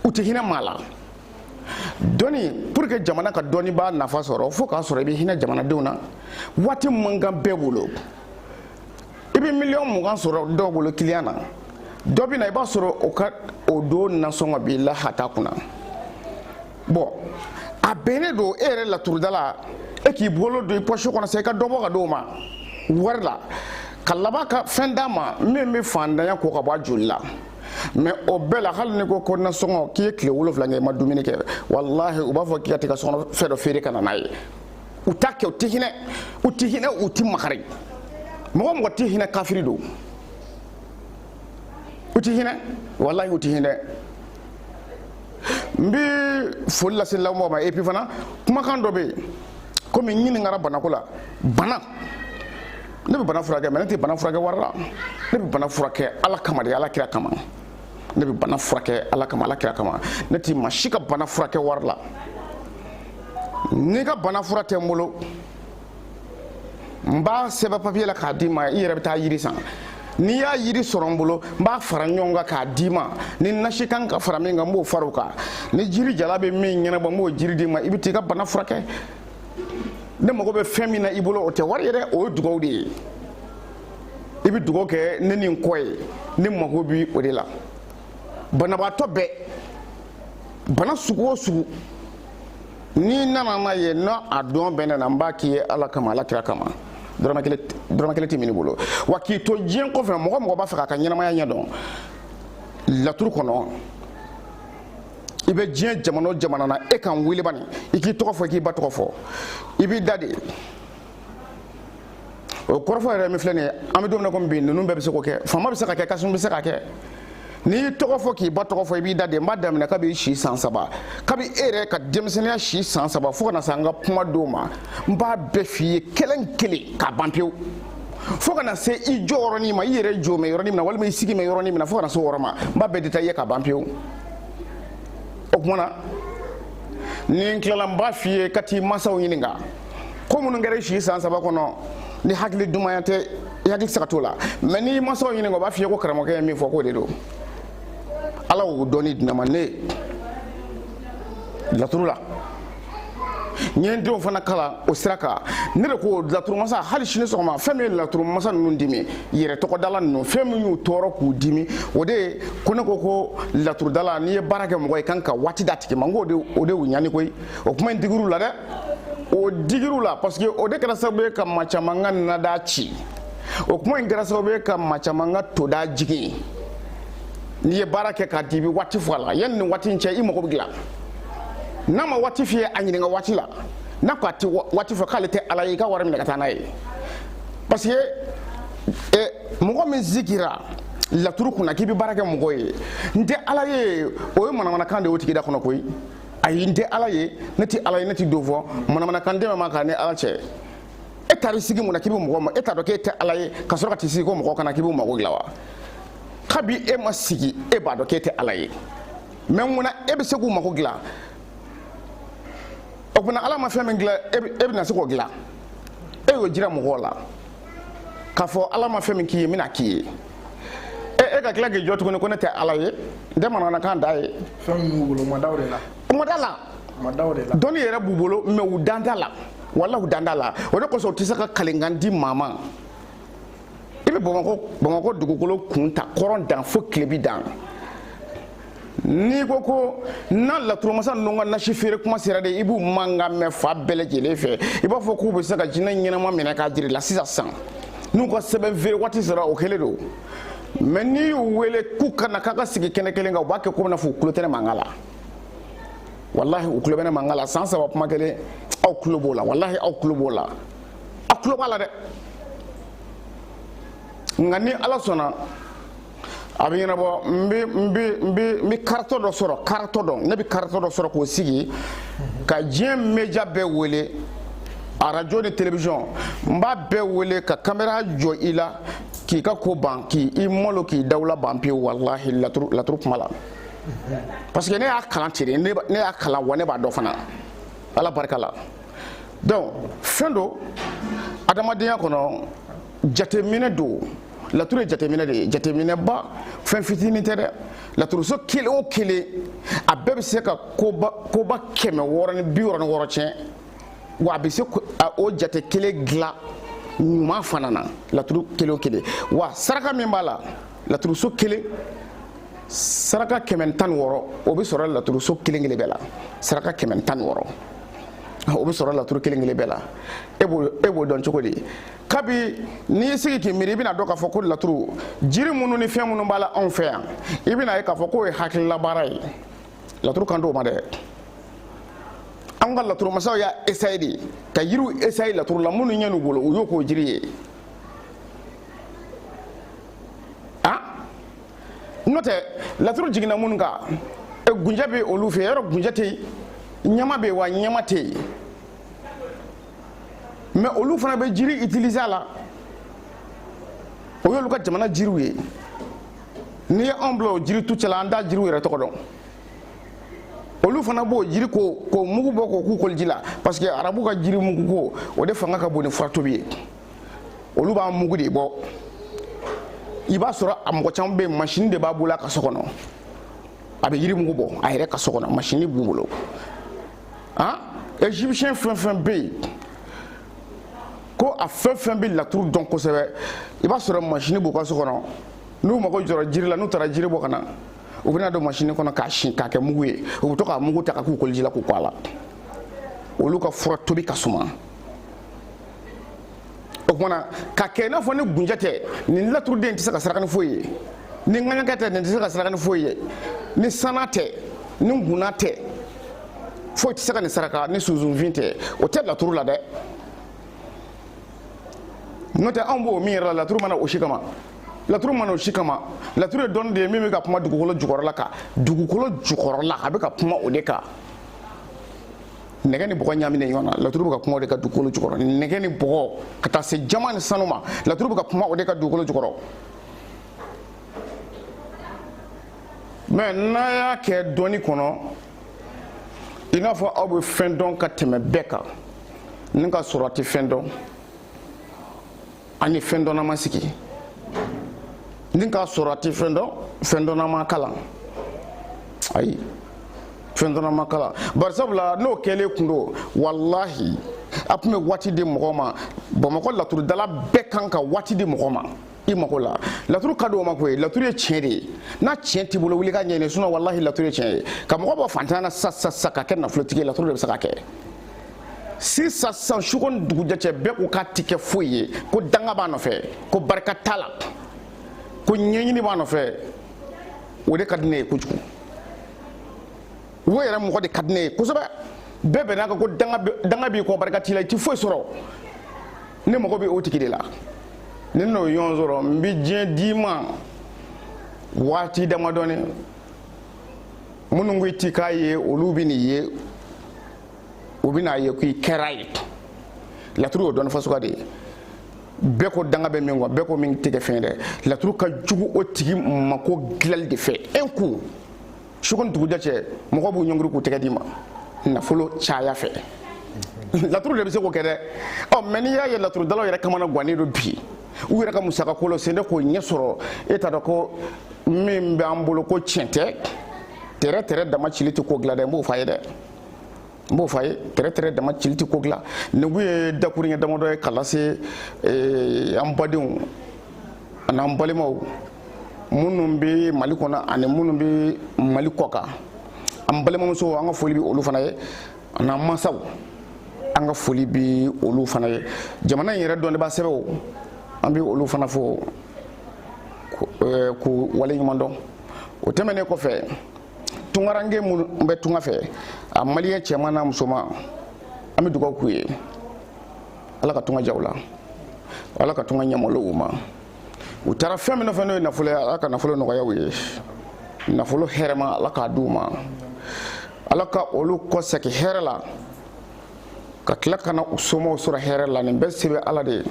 u tɛ hinɛ maa la dɔnni pour que jamana ka dɔnnibaa nafa sɔrɔ fo k'a sɔrɔ i bɛ hinɛ jamanadenw na waati man kan bɛɛ bolo i bɛ miliyɔn mugan sɔrɔ dɔw bolo kiliyan na dɔ bɛ na i b'a sɔrɔ o ka o don nasɔngɔ b'i la hata kunna bon a bɛnnen don e yɛrɛ laturudala e k'i bolo don i pɔsi kɔnɔ sa i ka dɔ bɔ ka d'o ma wari la ka laban ka fɛn d'a ma min bɛ fandanya ko ka bɔ a joli la mɛ o bɛɛ la hali ni ko ko nasɔngɔ k'i ye tile wolonwula kɛ i ma dumuni kɛ walahi u b'a fɔ k'i ka t'i ka so kɔnɔ fɛn dɔ feere ka na n'a ye u t'a kɛ u tɛ hinɛ u tɛ hinɛ u tɛ makari mɔgɔ mɔgɔ tɛ hinɛ kafiri don u tɛ hinɛ walahi u tɛ hinɛ n bɛ foli lase lamɔgɔw ma epi fana kumakan dɔ bɛ yen komi n ɲininkara banako la bana ne bɛ bana furakɛ mɛ ne tɛ bana furakɛ wari la ne bɛ bana furakɛ ala kama de ala kira kama ne bɛ bana furakɛ ala kama ala kira kama ne tɛ maa si ka bana furakɛ wari la n'i ka bana fura tɛ n bolo n b'a sɛbɛn papiye la k'a d'i ma i yɛrɛ bɛ taa yiri san n'i y'a yiri sɔrɔ n bolo n b'a fara ɲɔgɔn kan k'a d'i ma ni nasi kan ka fara min kan n b'o fara o kan ni jiri jala bɛ min ɲɛnabɔ n b'o jiri d'i ma i bɛ t'i ka bana furakɛ ne mago bɛ fɛn min na i bolo o tɛ wari ye dɛ o ye dugawu de ye i bɛ dugawu kɛ ne ni n kɔ ye ne mago bi o de la banabaatɔ bɛɛ bana sugu o sugu n'i nana n'a ye n'a dɔn bɛ ne na n b'a k'i ye ala kama ala kira kama dɔrɔmɛ kelen tɛ min'i bolo wa k'i to diɲɛ kɔfɛ mɔgɔ o mɔgɔ b'a fɛ k'a ka ɲɛnamaya ɲɛ dɔn laturu kɔnɔ i bɛ diɲɛ jamana o jamana na e ka n wele bani i k'i tɔgɔ fɔ i k'i ba tɔgɔ fɔ i b'i da de o kɔrɔfɔ yɛrɛ min filɛ nin ye an bɛ don min na komi bi ninnu bɛɛ bɛ se k'o kɛ faama bɛ se k'a kɛ kasum bɛ se k'a kɛ n'i y'i tɔgɔ fɔ k'i ba tɔgɔ fɔ i b'i da de n b'a daminɛ kabi si san saba kabi e yɛrɛ ka denmisɛnninya si san saba fo ka na se an ka kuma don ma n b'a bɛɛ f'i ye kelen kelen k'a ban pewu fo ka na se i jɔ yɔrɔnin ma i yɛrɛ jɔ mɛ yɔrɔnin min na walima i sigi mɛ yɔrɔnin min na fo ka na se o yɔrɔ ma n b'a bɛɛ détaillé k'a ban pewu o tuma na ni n tilala n b'a f'i ye ka t'i mansaw ɲininka ko minnu kɛra i si san saba kɔnɔ ni hakili dumaya tɛ i hakili tɛ se ka t'o la mɛ n'i masaw ɲininka o b'a f'i ye ko karamɔgɔkɛ ye min fɔ k'o de don ala y'o dɔnni di ne ma ne laturu la n ye n denw fana kalan o sira kan ne de ko laturumasa hali sini sɔgɔma fɛn min ye laturumasa ninnu dimi yɛrɛ tɔgɔdala ninnu fɛn min y'u tɔɔrɔ k'u dimi o de ye ko ne ko ko laturudala n'i ye baara kɛ mɔgɔ ye kan ka waati d'a tigi ma n ko o de y'u ɲani koyi o kuma in digir'u la dɛ o digir'u la parce que o de kɛra sababu ye ka maa caman ka nada ci o kuma in kɛra sababu ye ka maa caman ka toda jigin n'i ye baara kɛ k'a di i bɛ waati fɔ a la yanni nin waati in cɛ i mago bɛ dilan n'a ma waati f'i ye a ɲininka waati la n'a ko a tɛ waati fɔ k'ale tɛ ala ye i ka wari minɛ ka taa n'a ye parce que eh, mɔgɔ min sigira laturu kunna k'i bɛ baara kɛ mɔgɔ ye n tɛ ala ye o ye manamanakan de ye o tigi da kɔnɔ koyi ayi n tɛ ala ye ne tɛ ala ye ne tɛ don fɔ manamanakan dɛmɛ ma k'a ni ala cɛ e taar'i sigi mun na k'i bɛ mɔgɔ ma e t'a dɔn k'e tɛ ala ye ka sɔrɔ ka t'i sigi ko mɔgɔ ka na k'i b'u mago dilan wa kabi e ma sigi e b'a dɔn k'e tɛ ala ye mɛ mun na e bɛ se k'u mago dilan o tuma ala ma fɛn min dilan e bɛna se k'o dilan e y'o jira mɔgɔw la k'a fɔ ala ma fɛn min k'i ye n bɛna k'i ye e e ka tila k'i jɔ tuguni ko ne tɛ ala ye n tɛ manamanakan da ye fɛn min b'u bolo u ma da o de la u ma da la u ma da o de la dɔnni yɛrɛ b'u bolo mais u dan t'a la walahi u dan t'a la o de kosɔn u tɛ se ka kalikan di maa ma i bɛ bamakɔ bamakɔ dugukolo kun ta kɔrɔn dan fo tilebi dan n'i ko ko na laturumasa ninnu ka nasi feere kuma sera de i b'u mankan mɛn fan bɛɛ lajɛlen fɛ i b'a fɔ k'u bɛ se ka jinɛ ɲɛnama minɛ k'a jira i la sisan san n'u ka sɛbɛn feere waati sera o kɛlen don mais n'i y'u wele k'u ka na k'an ka sigi kɛnɛ kelen kan u b'a kɛ komi n'a fɔ u tulo tɛ ne mankan la walahi u tulo bɛ ne mankan la san saba kuma kelen aw tulo b'o la walahi aw tulo b'o la aw tulo b'a la dɛ nka ni ala sɔnna a bɛ ɲɛnabɔ n bɛ n bɛ n bɛ n bɛ karatɔ dɔ sɔrɔ karatɔ dɔ ne bɛ karatɔ dɔ sɔrɔ k'o sigi ka diɲɛ media bɛɛ wele arajo ni television n b'a bɛɛ wele ka kamera jɔ i la k'i ka ko ban k'i i malo k'i dawula ban pewu walahi laturu laturu kuma la parce que ne y'a kalan ten de ne ne y'a kalan wa ne b'a dɔn fana ala barika la donc fɛn don adamadenya kɔnɔ jateminɛ don laturu ye jateminɛ de ye jateminɛba fɛn fitinin tɛ dɛ laturuso kelen o kelen a bɛɛ bɛ se ka koba koba kɛmɛ wɔɔrɔ ni bi wɔɔrɔ ni wɔɔrɔ tiɲɛ wa a bɛ se o jate kelen dilan ɲuman fana na laturu kelen o kelen wa saraka min b'a la laturuso kelen saraka kɛmɛ ni tan ni wɔɔrɔ o bɛ sɔrɔ laturuso kelen kelen bɛɛ la saraka kɛmɛ ni tan ni wɔɔrɔ o bɛ sɔrɔ laturu kelen kelen bɛɛ la e b'o e b'o dɔn cogo di kabi n'i y'i sigi k'i miiri i bɛn'a dɔn k'a fɔ ko laturu jiri minnu ni fɛn minnu b'a la anw fɛ yan i bɛn'a ye k'a fɔ k'o ye hakililabaara ye laturu kan t'o ma dɛ an ka laturu masaw y'a esaye de ka yiriw esaye laturu la minnu ɲɛn'u bolo u y'o k'o jiri ye a n'o tɛ laturu jiginna minnu kan e, gunjɛ bɛ olu fɛ yɔrɔ gunjɛ tɛ yen ɲama bɛ yen wa ɲama tɛ yen mais olu fana bɛ jiri utiliser a la o y'olu ka jamana jiriw ye n'i ye anw bila o jiri tu cɛla an t'a jiriw yɛrɛ tɔgɔ dɔn olu fana b'o jiri ko k'o mugu bɔ k'o k'u koliji la parce que arabu ka jiri mugu ko o de fanga ka bon ni fura tobi ye olu b'a mugu de bɔ i b'a sɔrɔ a mɔgɔ caman bɛ yen masini de b'a bolo a ka so kɔnɔ a bɛ yiri mugu bɔ a yɛrɛ ka so kɔnɔ masini b'u bolo a egyptien fɛn fɛn bɛ yen ko a fɛn fɛn bɛ laturu dɔn kosɛbɛ i b'a sɔrɔ masini b'u ka so kɔnɔ n'u mago jɔra jiri la n'u taara jiri bɔ ka na u bɛ n'a don masini kɔnɔ k'a si k'a kɛ mugu ye u bɛ to k'a mugu ta ka k'u koliji la k'u ko a la olu ka fura tobi ka suma o tuma na ka kɛ i n'a fɔ ni gunjɛ tɛ nin laturuden tɛ se ka saraka ni foyi ye ni ŋaɲakɛ tɛ nin tɛ se ka saraka ni foyi ye ni sana tɛ ni guna tɛ foyi tɛ se ka nin saraka ni sunsunfin tɛ o tɛ laturu la dɛ n'o tɛ anw bɛ min yɛrɛ la laturu ma na o si kama laturu ma na o si kama laturu ye dɔnni de ye min bɛ ka kuma dugukolo jukɔrɔla kan dugukolo jukɔrɔla a bɛ ka kuma o de kan nɛgɛ ni bɔgɔ ɲaaminen ɲɔgɔn na laturu bɛ ka kuma o de kan dugukolo jukɔrɔ nɛgɛ ni bɔgɔ ka taa se jaman ni sanu ma laturu bɛ ka kuma o de kan dugukolo jukɔrɔ mɛ n'a y'a kɛ dɔnni kɔnɔ i n'a fɔ aw bɛ fɛn dɔn ka tɛmɛ bɛɛ kan ni k'a sɔrɔ a tɛ fɛn dɔn a ni fɛn dɔnna ma sigi ni k'a sɔrɔ a tɛ fɛn dɔn fɛn dɔnna m'a kalan ayi fɛn dɔnna m'a kalan bari sabula n'o kɛlen kun don walahi a tun bɛ waati di mɔgɔ ma bamakɔ laturudala bɛɛ kan ka waati di mɔgɔ ma i mago la laturu ka di o ma koyi laturu ye tiɲɛ de ye ni tiɲɛ t'i bolo wuli k'a ɲɛɲini sinɔn walahi laturu ye tiɲɛ ye ka mɔgɔ bɔ fantanya na sisan sisan k'a kɛ nafolotigi ye laturu de bɛ se k'a kɛ sisan sisan su ko ni dugujɛ cɛ bɛɛ ko k'a ti kɛ foyi ye ko danga b'a nɔfɛ ko barika t'a la ko ɲɛɲini b'a nɔfɛ o de ka di ne ye kojugu o yɛrɛ mɔgɔ de ka di ne ye kosɛbɛ bɛɛ bɛnn'a kan ko danga b'i kɔ barika t'i la i ti foyi sɔrɔ ne mago bɛ o tigi de la ni n y'o ɲɔgɔn sɔrɔ n bɛ diɲɛ d'i ma waati damadɔni minnu ko i ti k'a ye olu bɛn'i ye u bɛna a ye k'i kɛra ye laturu y'o dɔnni fasuguya de ye bɛɛ ko danga bɛ min kɔ bɛɛ ko min tɛ kɛ fɛn dɛ laturu ka jugu o tigi mako dilali de fɛ un coup su ko ni dugujɛ cɛ mɔgɔw b'u ɲɔngiri k'u tɛgɛ d'i ma nafolo caya fɛ laturu de bɛ se k'o kɛ dɛ ɔ mɛ n'i y'a ye laturudalaw yɛrɛ kamana gannen don bi u yɛrɛ ka musaka ko la sen tɛ k'o ɲɛ sɔrɔ e t'a dɔn ko min b'an bolo ko tiɲɛ tɛ tɛrɛ tɛrɛ dama cili tɛ ko dilan dɛ n b'o fɔ a ye dɛ n b'o fɔ a ye tɛrɛtɛrɛ dama cili tɛ ko dilan nin kun ye dakuruɲɛ damadɔ ye k'a lase eh, an badenw an'an balimaw minnu bɛ mali kɔnɔ ani minnu bɛ mali kɔkan an balimamusow an ka foli bɛ olu fana ye an'an mansaw an ka foli bɛ olu fana ye jamana in yɛrɛ dɔnnibaa sɛbɛw an bɛ olu fana fo eh, k'u waleɲuman dɔn o tɛmɛnen kɔfɛ tungaranke minnu bɛ tunga fɛ a maliyɛn cɛman n'a musoman an bɛ dugawu k'u ye ala ka tunga diya u la ala ka tunga ɲɛmɔlɔ u ma u taara fɛn min nɔfɛ n'o ye nafolo ye ala ka nafolo nɔgɔya u ye nafolo hɛrɛma ala k'a d'u ma ala ka olu kɔsegi hɛrɛ la ka tila ka na u somɔgɔw sɔrɔ hɛrɛ la nin bɛɛ se bɛ ala de ye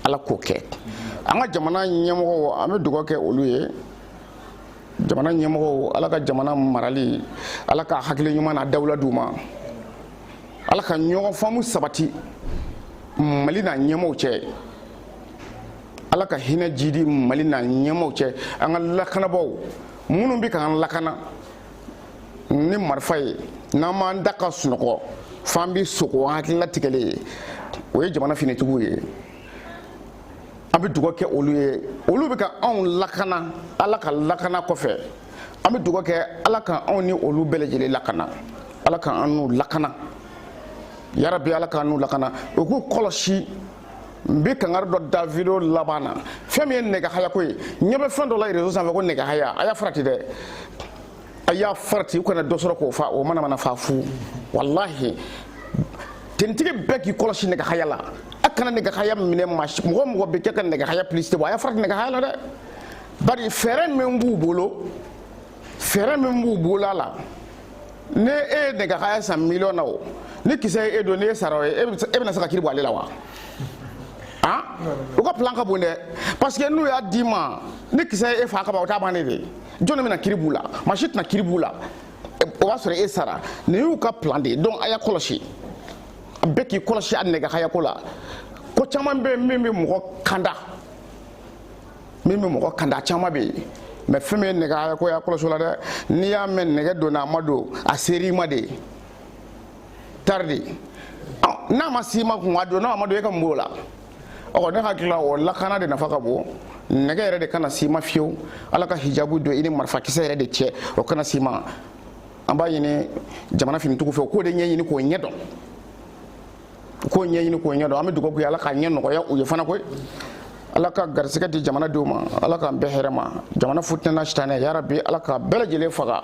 ala k'o kɛ an ka jamana ɲɛmɔgɔw an bɛ dugawu kɛ olu ye jamana ɲɛmɔgɔw ala ka jamana marali ala ka hakili ɲuman n'a dawula d'u ma ala ka ɲɔgɔn faamu sabati mali n'a ɲɛmɔgɔw cɛ ala ka hinɛ jidi mali n'a ɲɛmɔgɔw cɛ an ka lakanabaaw minnu bɛ k'an lakana ni marifa ye n'an m'an da ka sunɔgɔ f'an bɛ sugo an hakili latigɛlen ye o ye jamana finitigiw ye an bɛ dugawu kɛ olu ye olu bɛ ka anw lakana ala ka lakana kɔfɛ an bɛ dugawu kɛ ala ka anw ni olu bɛɛ lajɛlen lakana ala ka an n'u lakana yarabi ala ka an n'u lakana u k'u kɔlɔsi n bɛ kangari dɔ da video laban na fɛn min ye nɛgɛhayako ye n ɲɛ bɛ fɛn dɔ la réseau sanfɛ ko nɛgɛhaya a y'a farati dɛ a y'a farati u kana dɔ sɔrɔ k'o fa o manamana fa fu walahi tenitigi bɛɛ k'i kɔlɔsi nɛgɛhaya la a kana nɛgɛhaya minɛ maa si mɔgɔ mɔgɔ bɛ kɛ ka nɛgɛhaya publicité bɔ a y'a farati nɛgɛhaya la dɛ bari fɛɛrɛ min b'u bolo fɛɛrɛ min b'u bolo a la ni e ye nɛgɛhaya san miliyɔn na o ni kisɛ ye e don ni e sara o ye e bɛna se ka kiri bɔ ale la wa u ka plan ka bon dɛ parce que n'u y'a d'i ma ni kisɛ ye e fa ka ban o t'a bannen de ye jɔnni bɛna kiri b'u la maa si tɛna kiri b'u la o b'a sɔrɔ e sara nin y'u ka plan de ye donc a y'a kɔlɔsi a bɛɛ k'i kɔlɔsi a nɛgɛhayako la ko caman bɛ yen min bɛ mɔgɔ kanda min bɛ mɔgɔ kanda caman bɛ yen mais fɛn min ye nɛgɛhayako y'a kɔlɔsi o la dɛ n'i y'a mɛn nɛgɛ donna a ma don a ser'i ma de tari de n'a ma s'i ma kun a don n'a ma don e ka mun b'o la ɔ ne hakili la o lakana de nafa ka bon nɛgɛ yɛrɛ de kana s'i ma fiyewu ala ka hijabu don i ni marifakisɛ yɛrɛ de cɛ o kana s'i ma an b'a ɲini jamana finitigiw fɛ u k'o de ɲɛɲini k'o ɲɛ dɔn u k'o ɲɛɲini k'o ɲɛ dɔn an bɛ dugawu kɛ ala k'a ɲɛ nɔgɔya u ye fana koyi ala ka garisɛgɛ di jamanadenw ma ala k'an bɛn hɛrɛ ma jamana fitinɛ n'a sitanɛ yarabi ala k'a bɛɛ lajɛlen faga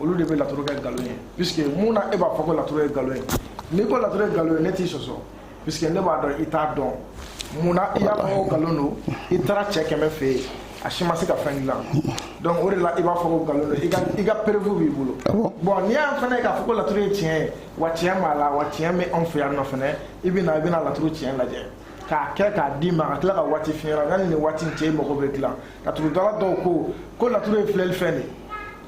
olu de bɛ laturu kɛ nkalon ye puisque mun na e b'a fɔ ko laturu ye nkalon ye n'i ko laturu ye nkalon ye ne t'i sɔsɔ puisque ne b'a dɔn i t'a dɔn mun na i y'a fɔ ko nkalon don i taara cɛ kɛmɛ fɛ yen a si ma se ka fɛn dilan donc o de la i b'a fɔ ko nkalon don i ka i ka preuve b'i bolo ah bon n'i y'a fana ye k'a fɔ ko laturu ye tiɲɛ ye wa tiɲɛ b'a la wa tiɲɛ bɛ anw fɛ yan nɔ fana i bɛ na i bɛna laturu tiɲɛ lajɛ k'a kɛ k'a d'i ma ka tila ka waati f'i ɲɛna yanni nin waati in cɛ i mago bɛ dilan laturudala dɔw ko ko laturu ye filɛli fɛn de ye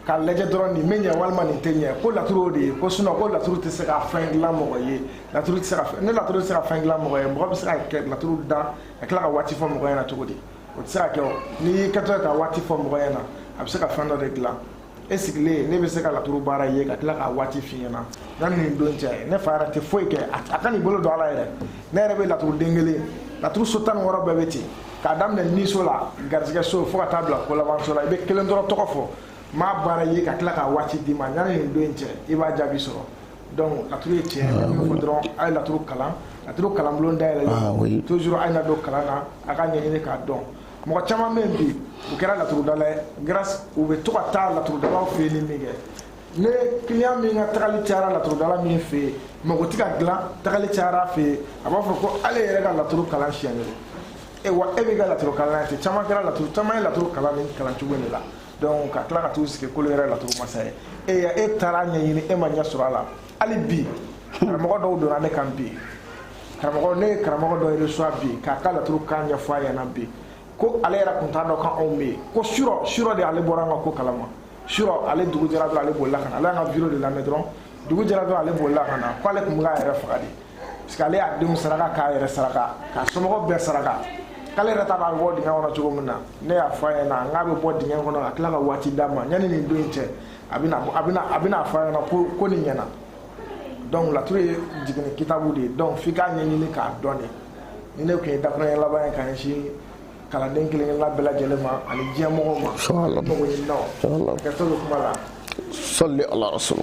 k'a lajɛ dɔrɔn nin bɛ ɲɛ walima nin tɛ ɲɛ ko laturu o de ye ko sinon ko laturu tɛ se ka fɛn dilan mɔgɔ ye laturu tɛ se ka fɛn ne laturu tɛ se ka fɛn dilan mɔgɔ ye mɔgɔ bɛ se ka kɛ laturu da ka tila ka waati fɔ mɔgɔ ɲɛna cogo di o tɛ se ka kɛ o n'i y'i kɛtɔ ye ka waati fɔ mɔgɔ ɲɛna a bɛ se ka fɛn dɔ de dilan e sigilen ne bɛ se ka laturu baara ye ka tila ka waati f'i ɲɛna yanni nin don cɛ ne fa yɛrɛ tɛ foyi kɛ a kan'i bolo don a la yɛrɛ ne yɛrɛ bɛ laturuden kelen laturu so tan ni wɔɔrɔ bɛɛ bɛ ten k'a daminɛ niso la garisɛgɛ so fo ka taa bila kolabanso la i bɛ kelen dɔrɔn tɔgɔ fɔ m'a baara ye ka tila ka waati d'i ma yanni nin don in cɛ i b'a jaabi sɔrɔ donc laturu ye tiɲɛ ye min fɔ dɔrɔn a ye laturu kalan laturu kalanbulon dayɛlɛla toujours a ye na don kalan na a k'a ɲɛɲini k'a dɔn mɔgɔ caman bɛ yen bi u kɛra laturudala ye grâce u bɛ to ka taa laturudalaw fɛ yen ni min kɛ ne client min ka tagali cayara laturudala min fɛ yen mako tɛ ka dilan tagali cayara a fɛ yen a b'a fɔ ko ale yɛrɛ ka laturu kalan siɲɛ kelen e wa e b'i ka laturu kalan ye ten caman kɛra laturu caman ye laturu kalan nin kalan cogo de la donc ka tila ka t'u sigi k'olu yɛrɛ laturu masa ye e ya e taara ɲɛɲini e ma ɲɛ sɔrɔ a la hali bi karamɔgɔ dɔw donna ne kan bi karamɔgɔ ne ye karamɔgɔ dɔ reçoit bi k'a ka laturu kan ɲɛfɔ a ɲɛna bi ko ale yɛrɛ tun t'a dɔn k'anw bɛ yen ko surɔ surɔ de ale bɔra an ka ko kalama surɔ ale dugu jɛra dɔrɔn ale bolila ka na ale y'an ka vidéo de lamɛn dɔrɔn dugu jɛra dɔrɔn ale bolila ka na k'ale tun bɛ k'a yɛrɛ faga de parce que ale y'a denw saraka k'a yɛrɛ saraka k'a somɔgɔw bɛɛ saraka k'ale yɛrɛ ta b'a bɔ dingɛ kɔnɔ cogo min na ne y'a fɔ a ɲɛna n k'a bɛ bɔ dingɛ kɔnɔ ka tila ka waati d'a ma yanni nin don in cɛ a bɛna a bɛna a bɛna fɔ a ɲɛna ko ko nin ɲɛna donc laturu ye jiginni kitabu de ye donc f'i k'a ɲɛɲini k'a dɔn de nin de tun ye dakuruɲɛ laban ye ka ɲɛsin kalanden kelen kelenla bɛɛ lajɛlen ma ani diɲɛ mɔgɔw ma mako ɲininaw hakɛto bɛ kuma la salli ala rasul